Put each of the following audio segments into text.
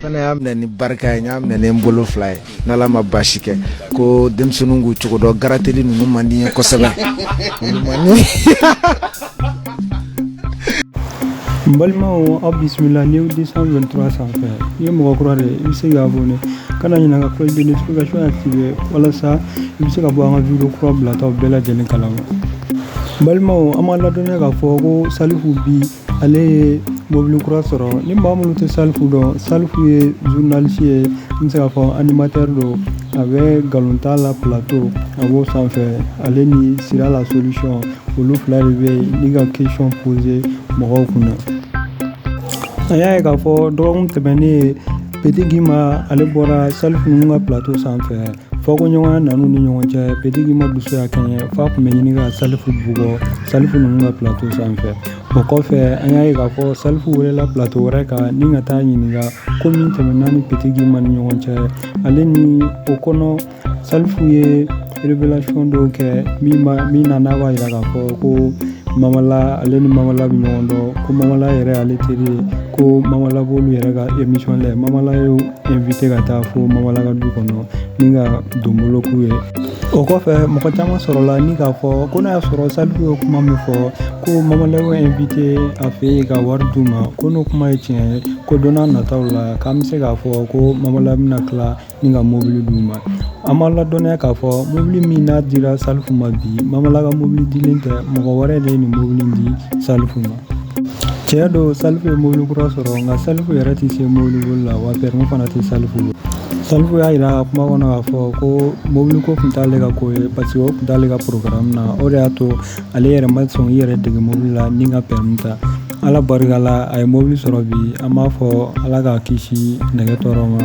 fana y'a minɛ ni barika ye n y'a minɛ ni n bolo fila ye n'ala ma basi kɛ ko denmisɛnninw k'u cogo dɔn garateli ninnu man di n ye kosɛbɛ n balimaw aw bisimila new deux cent vingt-trois sanfɛ n'i ye mɔgɔ kura de ye i bɛ se ka abonner kana ɲinɛ ka cloche de notification activer walasa i bɛ se ka bɔ an ka video kura bilataw bɛɛ lajɛlen kalama balimaw an b'a ladɔnniya k'a fɔ ko salifu bi ale ye mobili kura sɔrɔ ni maa minnu tɛ salifu dɔn salifu ye journaliste ye n bɛ se k'a fɔ animatɛri don a bɛ galonta la plateau a b'o sanfɛ ale ni sira la solution olu fila de bɛ yen ni ka question poser mɔgɔw kunna an y'a ye k'a fɔ dɔgɔkun tɛmɛnen ye petit guimba ale bɔra salifu ninnu ka plateau sanfɛ fɔkoɲɔgɔnya nan'u ni ɲɔgɔn cɛ petit guimba dusu y'a kɛɲɛ f'a tun bɛ ɲini ka salifu bugɔ salifu ninnu ka plateau sanfɛ o kɔfɛ an y'a ye k'a fɔ salifu welela plateau wɛrɛ kan ni ka t'a ɲininka ko min tɛmɛna ni petit guimba ni ɲɔgɔn cɛ ale ni o kɔnɔ salifu ye révélation dɔw kɛ min na n'a b'a yira k'a fɔ ko mamala ale ni mamala bɛ ɲɔgɔn dɔn ko mamala yɛrɛ ale teri ye ko mamala b'olu yɛrɛ ka émission lajɛ mamala y'u inviter ka taa fo mamala ka du kɔnɔ ni ka donbolo k'u ye o kɔfɛ mɔgɔ caman sɔrɔla ni k'a fɔ ko n'a y'a sɔrɔ salifu ye kuma min fɔ ko mamala y'u inviter a fɛ yen ka wari d'u ma ko n'o kuma ye tiɲɛ ye ko don n'a nataw la k'an bɛ se k'a fɔ ko mamala bɛna tila ni ka mobili d'u ma an b'a ladɔnniya k'a fɔ mobili min n'a dira salifu ma bi mamala ka mobili dilen tɛ mɔgɔ wɛrɛ de ye nin mobili di salifu ma Tiɲɛ don salifu ye mobili kura sɔrɔ nka salifu yɛrɛ tɛ se mobili boli la wa permis fana tɛ salifu bolo salifu y'a jira a ka kuma kɔnɔ k'a fɔ ko mobili ko tun t'ale ka ko ye parce que o tun t'ale ka programme na o de y'a to ale yɛrɛ ma sɔn i yɛrɛ dege mobili la ni ka permis ta ala barika la a ye mobili sɔrɔ bi an b'a fɔ ala k'a kisi nɛgɛ tɔɔrɔ ma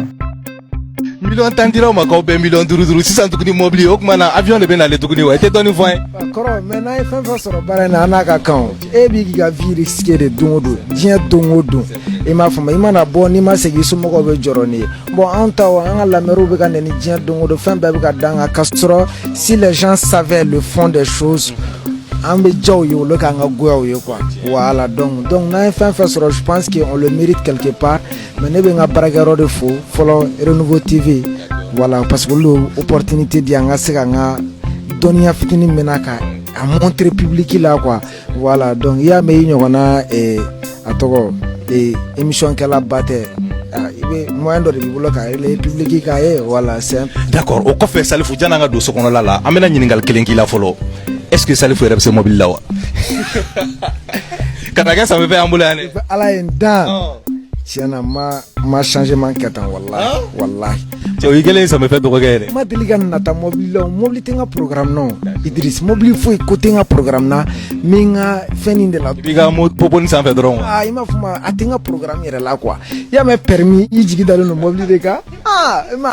miliyɔn tan dir'aw ma k'aw bɛɛ miliyɔn duuru duuru sisan tuguni mobili o tuma na avion de bɛ nalen tuguni wa i tɛ dɔɔnin fɔ an ye. kɔrɔ mais n'an ye fɛn fɛn sɔrɔ baara in na an n'a ka kan e b'i k'i ka vie risquer de don o don diɲɛ don o don i m'a faamu i mana bɔ n'i ma segin i somɔgɔw bɛ jɔrɔ n'i ye bon an ta o an ka lamɛriw bɛ ka nɛni diɲɛ don o don fɛn bɛɛ bɛ ka d'an kan k'a sɔrɔ si les gens savaient le fond des choses an bɛ diyaw ye olu k'an ka goyaw ye quoi voilà donc donc n'an ye fɛn fɛn sɔrɔ je pense que on le mérite quelque part Mais ne bɛ n ka baarakɛyɔrɔ de fo fɔlɔ renouveau tv voilà parce que olu de opportunité di an ka se ka an ka dɔnniya fitini min na k'a montrer public la quoi voilà donc i y'a mɛn i ɲɔgɔn na a tɔgɔ émission kɛlaba tɛ i bɛ moyen dɔ de b'i bolo ka public k'a ye voilà d'accord o kɔfɛ salifu janni an ka don so kɔnɔla la an bɛna ɲininkali kelen k'i la fɔlɔ est-ce que salifu yɛrɛ bɛ se mobili la wa Kana kɛ sami fɛ an bolo yan dɛ. Ala ye n dan. Tiɲɛ na n ma n ma changement kɛ tan walahi walahi. Cɛ o y'i kɛlen ye sami fɛ dɔgɔkɛ ye dɛ. N ma deli ka nata mɔbili la o, mɔbili tɛ n ka programme na o Idriss. Mɔbili foyi ko tɛ n ka programme na n bɛ n ka fɛn in de la. I b'i ka mo poponi sanfɛ dɔrɔn. Aa i m'a fɔ ma a tɛ n ka programme yɛrɛ la quoi i y'a mɛn permis i jigi dalen don mɔbili de kan aa i ma